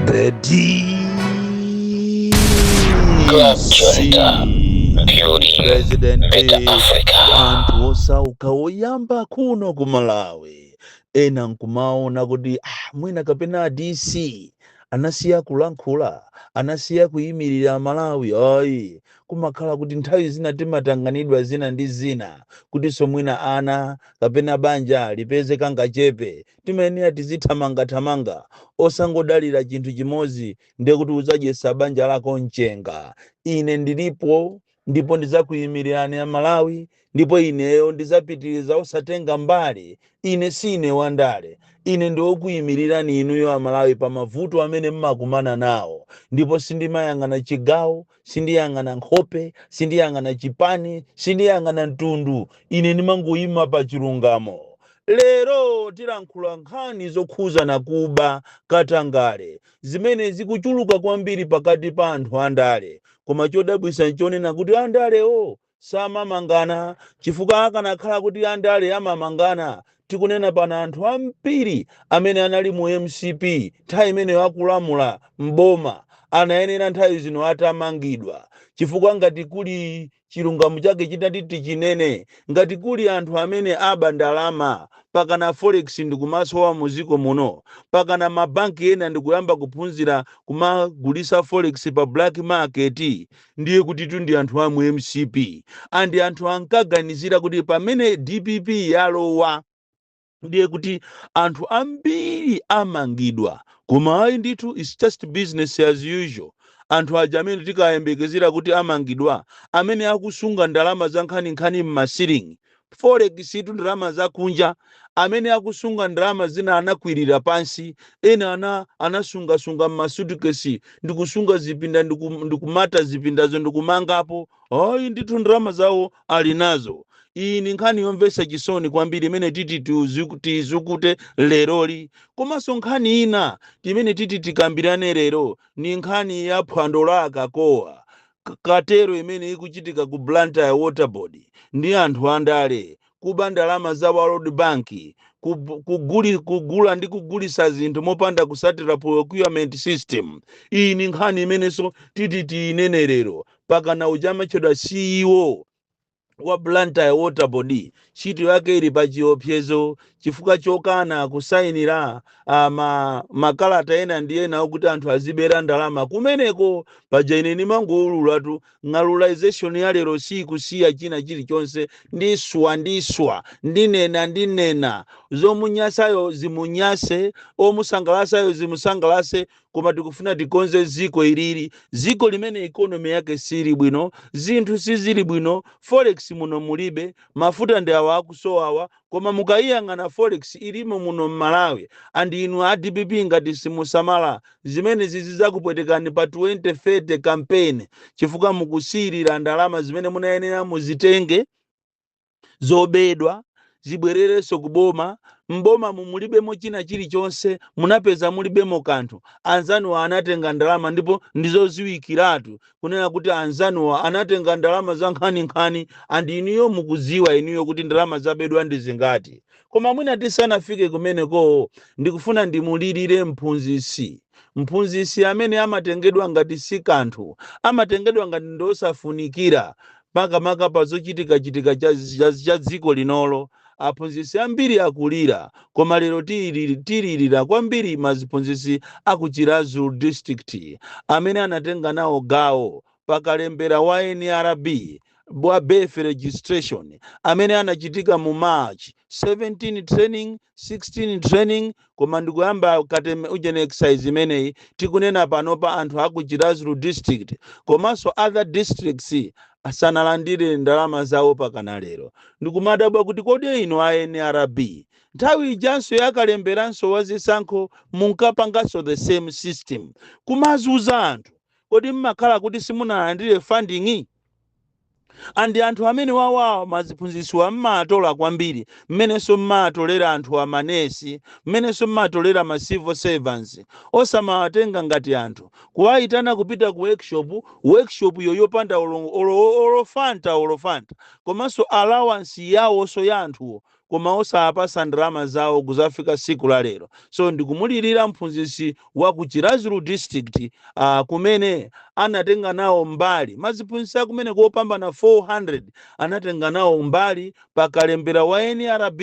Bedi. President wa anthu osauka woyamba kuno ku Malawi ena nkumaona kuti ah, mwina kapena DC anasiya kulankhula anasiya kuyimirira Malawi ayi kumakhala kuti nthawi zina timatanganidwa zina ndi zina kutinso mwina ana kapena banja lipeze kangachepe Timayenera tizithamangathamanga osangodalira chinthu chimodzi ndiye kuti udzadyetsa banja lako mchenga. Ine ndilipo ndipo ndidzakuimirirani a Malawi ndipo ineyo ndidzapitiriza osatenga mbali. Ine siine wandale. Ine ndi wokuimirirani inuyo a Malawi pa mavuto amene mmakumana nawo ndipo sindimayang'ana chigawo, sindiyang'ana nkhope sindiyang'ana chipani sindiyang'ana mtundu ine ndimangoyima pa chilungamo lero tilankhula nkhani zokhuzana kuba katangale zimene zikuchuluka kwambiri pakati pa anthu andale koma chodabwisa nchonena kuti andalewo samamangana chifukwa akanakhala kuti andale amamangana tikunena pano anthu ambiri amene anali mu mcp nthawi imeneyo akulamula m'boma anayenera nthawi zino atamangidwa chifukwa ngati kuli chilungamo chake chitati tichinene ngati kuli anthu amene aba ndalama pakana forex ndikumasowa muziko muno pakana mabanki ena ndikuyamba kuphunzira kumagulisa forex pa black market ndiye kutitu ndi anthu a mu mcp and anthu ankaganizira kuti pamene dpp yalowa ndiye kuti anthu ambiri amangidwa koma ayi ndithu its just business as usual anthu aja amene tikayembekezera kuti amangidwa amene akusunga ndalama za nkhaninkhani m'masilingi Forex tu ndalama zakunja. Amene akusunga ndalama zina anakwirira pansi, ena ana anasungasunga m'masutukesi ndikusunga zipinda ndiku, ndikumata zipindazo ndikumangapo. Ayi ndithu ndalama zawo ali nazo. Iyi ndi nkhani yomvetsa chisoni kwambiri imene titi tiuzu- tiizukute leroli. Komanso nkhani ina imene titi tikambirane lero ndi nkhani ya phwando la akakowa. K- cartel imene ikuchitika ku blantyre water board ndi anthu andale kuba ndalama za world bank kub- kuguli, kugula ndi kugulisa zinthu mopanda kusatira procurement system iyi ni nkhani imenenso titi tiyinene lero pakana uja amatchedwa ceo wa Blantyre Water Board ntchito yake ili pa chiopsezo chifukwa chokana kusayinira ah, ma, makalata ena ndi ena okuti anthu azibera ndalama kumeneko paja ine ndimangoululatu ng'alulization ya lero siyikusiya china chilichonse ndiswa ndiswa ndinena ndinena zomunyasayo zimunyase omusangalasayo zimusangalase koma tikufuna tikonze ziko ilili ziko limene ikonomi yake sili bwino zinthu sizili bwino forex muno mulibe mafuta ndi awa akusowawa koma mukayiyang'ana forex ilimo muno mmalawi and inu a dpp ngati simusamala zimene zizizakupwetekani pa 2030 campaign chifukwa mukusiyirira ndalama zimene munayenera muzitenge zobedwa zibwererenso ku boma m'bomamu mulibemo china chilichonse munapeza mulibemo kanthu anzanuwa anatenga ndalama ndipo ndizoziwikiratu kunena kuti anzanuwa anatenga ndalama za nkhaninkhani and inuyo mukudziwa inuyo kuti ndalama zabedwa ndi zingati koma mwina tisanafike kumenekoo ndikufuna ndimulirire mphunzitsi Mphunzitsi amene amatengedwa ngati si kanthu, amatengedwa ngati ndi osafunikira, makamaka pa zochitikachitika cha, cha, cha dziko linolo. Aphunzitsi ambiri akulira, koma lero tili, tilirira kwambiri maziphunzitsi a ku Chiradzulu District amene anatenga nawo gawo pa kalembera wa nrb wa birth registration amene anachitika mu march 17 training 16 training koma ndikuyamba kateme ujeni exercise imeneyi tikunena panopa anthu aku chirazulu district komanso other districts asanalandire ndalama zawo pakana lero ndikumadabwa kuti kodi inu a nrb nthawi ijanso yakalemberanso wazisankho munkapanganso the same system kumazuza anthu kodi mmakhala kuti simunalandire funding? And anthu amenewawawa maziphunzitsuwa mmatola kwambiri mmenenso mmatolera anthu a manesi mmenenso mmatolera ma civil servants osamawatenga ngati anthu kuwayitana kupita ku workshop workshop yo yopanda olo, olo, olo fanta olo fanta komanso allowance yawonso ya anthuwo koma osawapasa ndalama zawo kuzafika siku la lero so ndikumulirira mphunzisi wa ku chirazulu district uh, kumene anatenga nawo mbali maziphunzisi akumene kopambana 400 anatenga nawo mbali pa kalembera wa nrb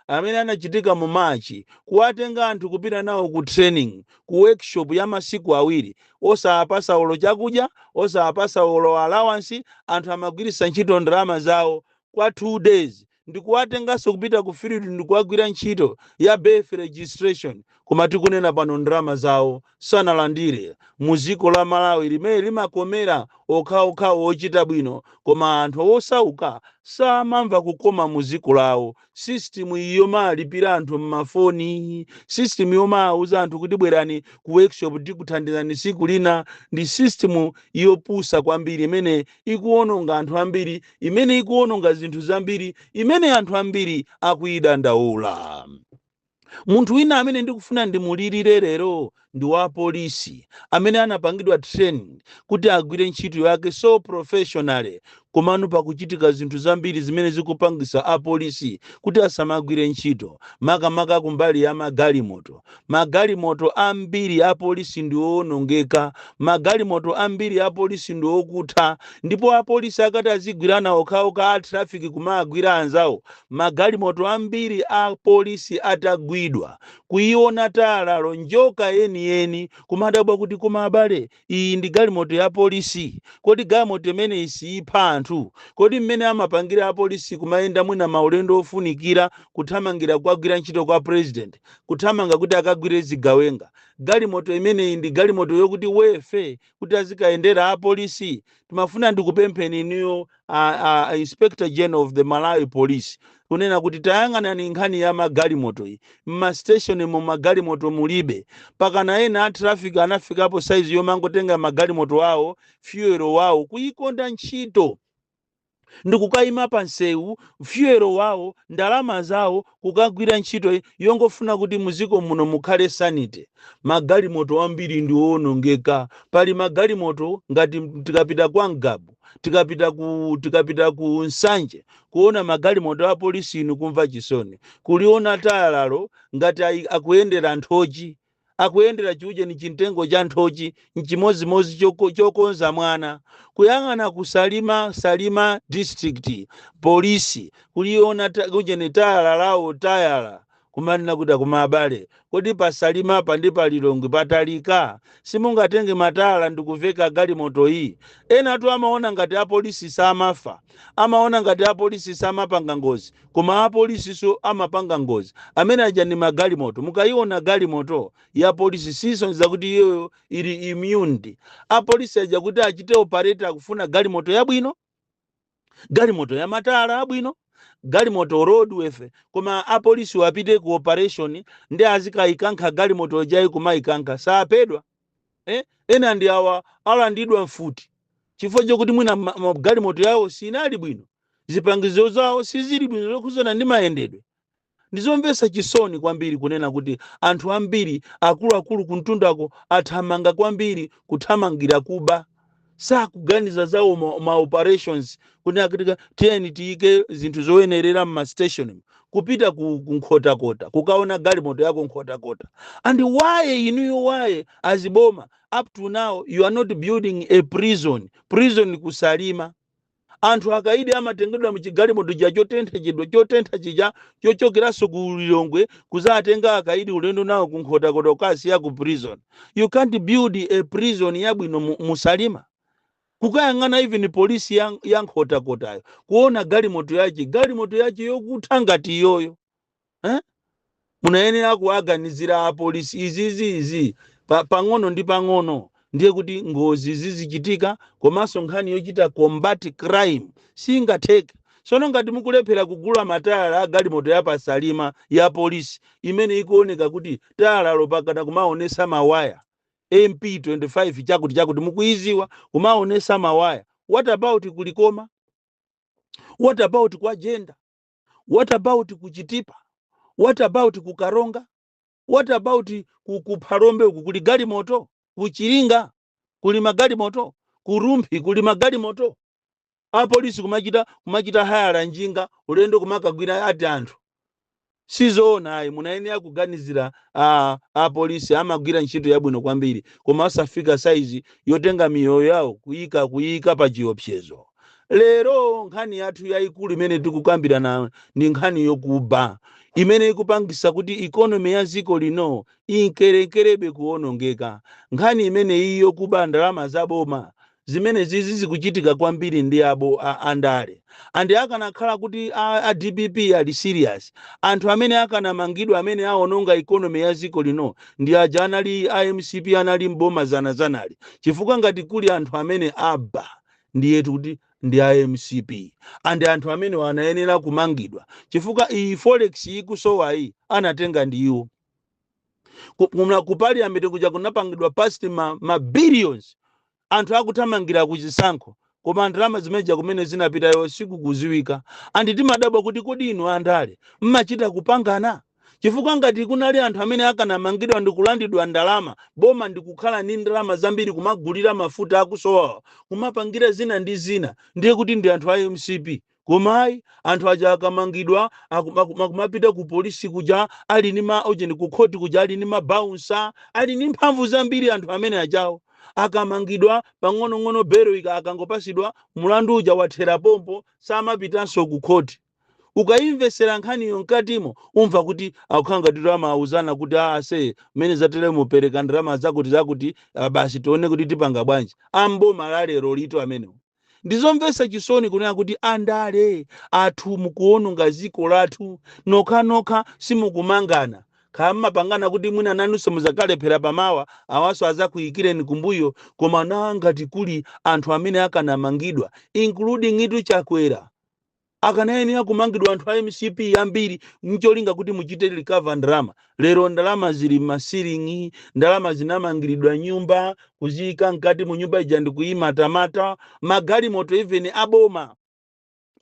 amene anachitika mu machi kuwatenga anthu kupita nawo ku training ku workshop ya masiku awiri osawapasa olo chakudya osawapasa olo allowance anthu amagwiritsa ntchito ndalama zawo kwa 2 days ndikuwatenganso kupita ku field ndikuwagwira ntchito ya birth registration koma tikunena pano ndalama zawo sanalandire mu dziko la malawi limene limakomera okhaokhawo ochita bwino koma anthu osauka samamva kukoma mu dziko lawo system yomalipira anthu mmafoni system yomauza anthu kuti bwerani ku workshop tikuthandizani tsiku lina ndi system yopusa kwambiri imene ikuwononga anthu ambiri, imene ikuwononga zinthu zambiri, imene anthu ambiri akuyidandaula. Munthu wina amene ndikufuna ndimulirire lero ndi wa polisi amene anapangidwa training kuti agwire ntchito yake so professionally, komano pakuchitika zinthu zambiri zimene zikupangisa apolisi kuti asamagwire ntchito, makamaka kumbali ya magalimoto. Magalimoto ambiri a polisi ndi owonongeka. Magalimoto ambiri a polisi ndi okutha. Ndipo apolisi akati azigwirana okhaokha a traffic kumawagwira anzawo, magalimoto ambiri a polisi atagwidwa, kuiona tayalalo, njoka yeniyeni, kumadabwa kuti koma abale, iyi ndi galimoto ya polisi kodi galimoto imeneyi siipha anthu kodi mmene amapangira apolisi kumayenda mwina maulendo ofunikira kuthamangira kukagwira ntchito kwa president kuthamanga kuti akagwire zigawenga galimoto imeneyi ndi galimoto roadworthy kuti azikayendera apolisi ndimafuna ndikupempheni inuyo a, a, a inspector general of the malawi police kunena kuti tayang'anani nkhani ya magalimoto iyi mmasteshonimu magalimoto mulibe mpakana ena a traffic anafikapo saizi yomangotenga magalimoto awo fuel wawo kuyikonda ntchito ndikukayima pa nsewu fuel wawo ndalama zawo kukagwira ntchito yongofuna kuti muziko muno mukhale sanity magalimoto ambiri ndi owonongeka pali magalimoto ngati m- tikapita kwa ngabu tikapita ku tikapita ku nsanje kuona magalimoto a polisi inu kumva chisoni kuliona tayalalo ngati ayi- akuyendera nthochi akuyendera chiujeni chimtengo cha nthochi nchimodzimodzi choko- chokonza mwana kuyang'ana ku salima salima district polisi kuliona ta- ujeni tayala lawo tayala kumanena kuti koma abale kodi pasalima apa ndi palilongwe patalika simungatenge matayala ndikuiveka galimoto iyi enatu amaona ngati apolisi samafa amaona ngati apolisi samapanga ngozi koma apolisinso amapanga ngozi amene aja ndi magalimoto mukayiona galimoto ya polisi sisonyeza kuti iyoyo ili immuned apolisi aja kuti achite operate akufuna galimoto yabwino galimoto ya matayala abwino galimoto roadworthy koma apolisi apite ku operation nde azikayikankha galimoto jayi kumayikankha saphedwa Eh? Ena ndi awa alandidwa mfuti chifukwa chokuti mwina ma- ma- galimoto yawo siinali bwino, zipangizo zawo sizili bwino zokhudzana ndi mayendedwe. Ndizomvetsa chisoni kwambiri kunena kuti anthu ambiri akuluakulu kuntundako athamanga kwambiri kuthamangira kuba. sakuganiza zawo ma- ma operations kuti akutika tiyeni tiyike zinthu zoyenerera mma station kupita ku ku nkhotakota kukaona galimoto yako nkhotakota and why inuyo why aziboma up to now you are not building a prison prison kusalima Anthu akaidi amatengedwa mchigalimoto chija chotentha chija chotentha chija chochokeranso ku Lilongwe kuzawatenga akaidi ulendo nawo ku Nkhotakota kukasiya ku prison. You can't build a prison yabwino mu mu Salima. Kukayang'ana even police ya ya Nkhotakotayo kuona galimoto yache, galimoto yache yokutha ngati iyoyo. eh? munayenera kuwaganizira apolisi izizi izi pa, pang'ono ndi pang'ono ndiye kuti ngozi zizichitika komanso nkhani yochita combat crime singatheke sono ngati mukulephera kugula matayala a galimoto ya pasalima ya polisi imene ikuoneka kuti tayala lo mpakana kumaonesa mawaya mp 25 chakuti chakuti mukuiziwa kumaonesa mawaya what about kulikoma what about kwa jenda what about ku chitipa what about ku karonga what about ku, ku phalombe uku kuli galimoto ku chiringa kuli magalimoto ku rumphi kuli magalimoto apolisi kumachita kumachita hayala njinga ulendo kumakagwira ati anthu sizoona ayi munayenera kuganizira a apolisi amagwira ntchito yabwino kwambiri koma osafika saizi yotenga miyoyo yawo kuyika kuyika pa chiopsezo Lero nkhani yathu yayikulu imene tikukambirana ndi nkhani yokuba imene ikupangisa kuti economy ya dziko lino inkerenkerabe kuonongeka. Nkhani imeneyi yokuba ndalama za boma zimene zizi zikuchitika kwambiri ndi a- a andale and akanakhala kuti a, a dpp ali serious anthu amene akanamangidwa amene aononga economy ya dziko lino ndi aja anali a mcp anali mboma zana zanali chifukwa ngati kuli anthu amene aba ndiyetu kuti ndi a mcp andi anthu amenewa anayenera kumangidwa chifukwa iyi forex ikusowayi anatenga ndi iwo Ku- kumla- ku parliament kuja kunapangidwa pass ma, ma billions anthu akuthamangira kuchisankho koma ndalama zimeneja kumene zinapitayo sikukuziwika andi timadabwa kuti kodi inu andale mmachita kupangana Chifukwa ngati kunali anthu amene akanamangidwa ndikulandidwa ndalama, boma ndikukhala ndi ndalama zambiri kumagulira mafuta akusowawa,, kumapangira zina ndi zina, ndiye kuti ndi anthu a mcp. Koma ayi, anthu aja akamangidwa akuma akumapita ku police kuja ali ndi ma ujeni, ku court kuja ali ndi ma bouncer, ali ndi mphamvu zambiri anthu amene ajawo. Akamangidwa, pang'onong'ono belo akangopasidwa, mulandu uja wathera pompo, samapitanso ku court. Ukaimvetsera nkhaniyo mkatimo umva kuti akukhala ngati kuti amauzana kuti a ase mmene zateremu pereka ndalama zakuti zakuti ah, basi tione kuti tipanga bwanji. A m'boma la lero lito amenewo. Ndizomvetsa chisoni kunena kuti andale athu mukuononga dziko lathu nokhanokha simukumangana kaya mmapangana kuti mwina nanunso muzakalephera pamawa awanso azakuikireni kumbuyo koma na ngati kuli anthu amene akanamangidwa includingitu Chakwera akanayenera kumangidwa anthu a MCP ambiri mcholinga kuti muchite recover ndalama lero ndalama zili m'masiling'i ndalama zinamangiridwa nyumba kuziyika mkati mu nyumba ija ndikuyimatamata magalimoto even aboma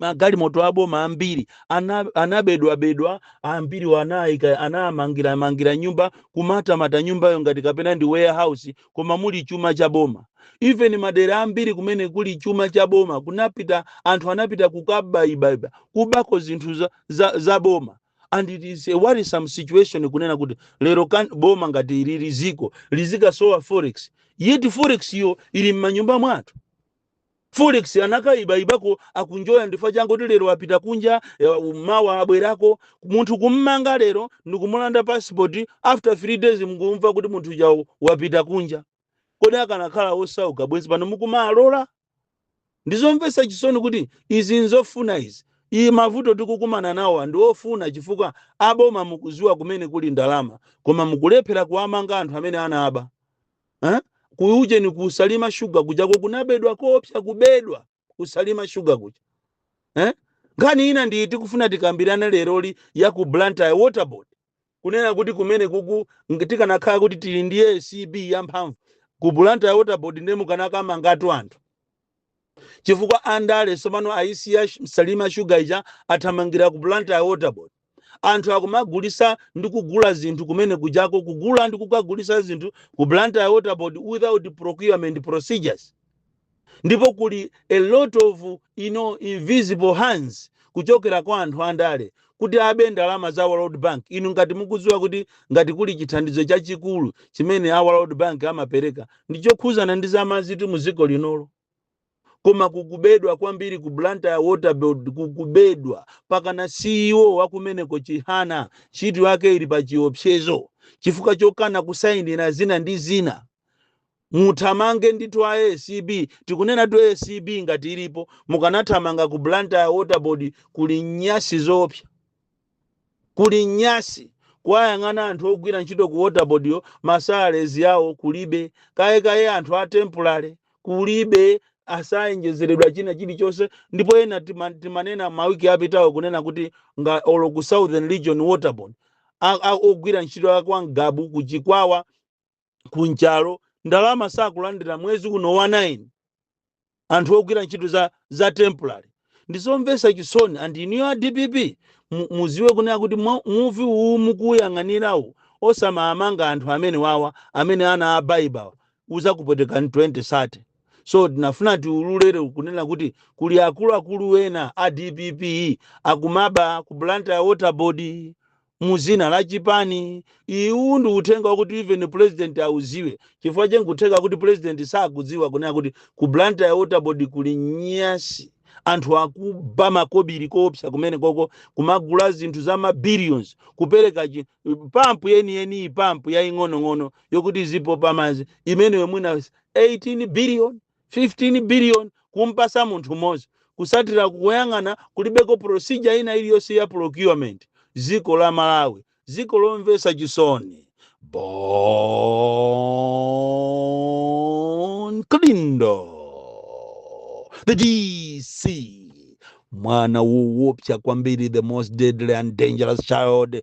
magalimoto aboma ambiri ana- anabedwabedwa ambiri anayika anamangira mangira nyumba kumatamata nyumbayo ngati kapena ndi warehouse koma muli chuma cha boma even madera ambiri kumene kuli chuma cha boma kunapita anthu anapita kukabaibaiba kubako zinthu za, za, za boma and it is a worrisome situation kunena kuti lero kan, boma ngati ili dziko lizikasowa forex yet forex yo ili m'manyumba mwathu Forex anakaibaibako akunjoya ndifukwa changoti lero wapita kunja eh, mawa abwerako munthu kummanga lero ndikumulanda passport after 3 days mkumva kuti munthu uja wapita kunja kodi akanakhala osauka bwenzi pano mukumalola ndizomvetsa chisoni kuti izi nzofuna izi iyi mavuto tikukumana nawowa ndi ofuna chifukwa aboma mukuziwa kumene kuli ndalama koma mukulephera kuwamanga anthu amene anaba eh? ku ujeni ku Salima Sugar kujako kunabedwa kopsa kubedwa ku Salima Sugar kuja eh? nkhani ina ndiyi tikufuna tikambirane leroli ya ku Blantyre Water Board kunena kuti kumene kuku ng- tikanakhala kuti tili ndi ACB yamphamvu ku Blantyre Water Board ndiye mukanakamangatu anthu chifukwa andale tsopano ayisiya sh- Salima Sugar ija athamangira ku Blantyre Water Board anthu akumagulisa ndi kugula zinthu kumene kujako kugula ndi kukagulisa zinthu ku Blantyre Water Board without procurement procedures ndipo kuli a lot of you know, invisible hands kuchokera kwa anthu andale kuti abe ndalama za World Bank. Inu ngati mukudziwa kuti ngati kuli chithandizo chachikulu chimene a World Bank amapereka ndi chokhuzana ndi za madzitu mu dziko linolo koma kukubedwa kwambiri ku Blantyre Water Board kukubedwa pakana CEO wakumeneko Chihana ntchito yake ili pa chiopsezo chifukwa chokana kusayinira zina ndi zina Muthamange ndithu a ACB, tikunenatu ACB ngati ilipo, mukanathamanga ku Blantyre Water Board kuli nyasi zoopsa. Kuli nyasi, kuwayang'ana anthu ogwira ntchito ku Water Boardyo ma salaries awo kulibe, kaye kaye anthu a temporary kulibe, asayenjezeredwa china chilichonse ndipo ena tima, timanena ma week apitawo kunena kuti nga, olo ku Southern Region Water Board a, a, ogwira ntchito a kwa Ngabu ku Chikwawa, ku Nchalo ndalama sakulandira mwezi uno wa 9 anthu ogwira ntchito za, za temporary ndizomvesa chisoni and inuyo a dpp mu- muziwe kunena kuti mwa- muvi uwu mukuyang'anirawu osamamanga anthu amenewawa amene anaba ibawa uzakupwetekani 2030 so tinafuna tiululere kunena kuti kuli akuluakulu ena a dpp akumaba ku blantyre water board mu zina la chipani uwu ndi uthenga wakuti even president auziwe chifukwa cha nkutheka kuti president sakudziwa kunena kuti ku blantyre waterboard kuli nyasi anthu akuba makobiri koopsa kumenekoko kumagula zinthu za mabillions kupereka chi- pampu yeniyeni iyi pampu yaing'onong'ono yokuti izipopa madzi imeneyo mwina 18 billion 15 billion kumpasa munthu mozi kusatira kukuyang'ana kulibeko procedure ina iliyonse ya procurement ziko la malawi ziko lomvesa chisoni bon kalindo the dc mwana wowopsa kwambiri the most deadly and dangerous child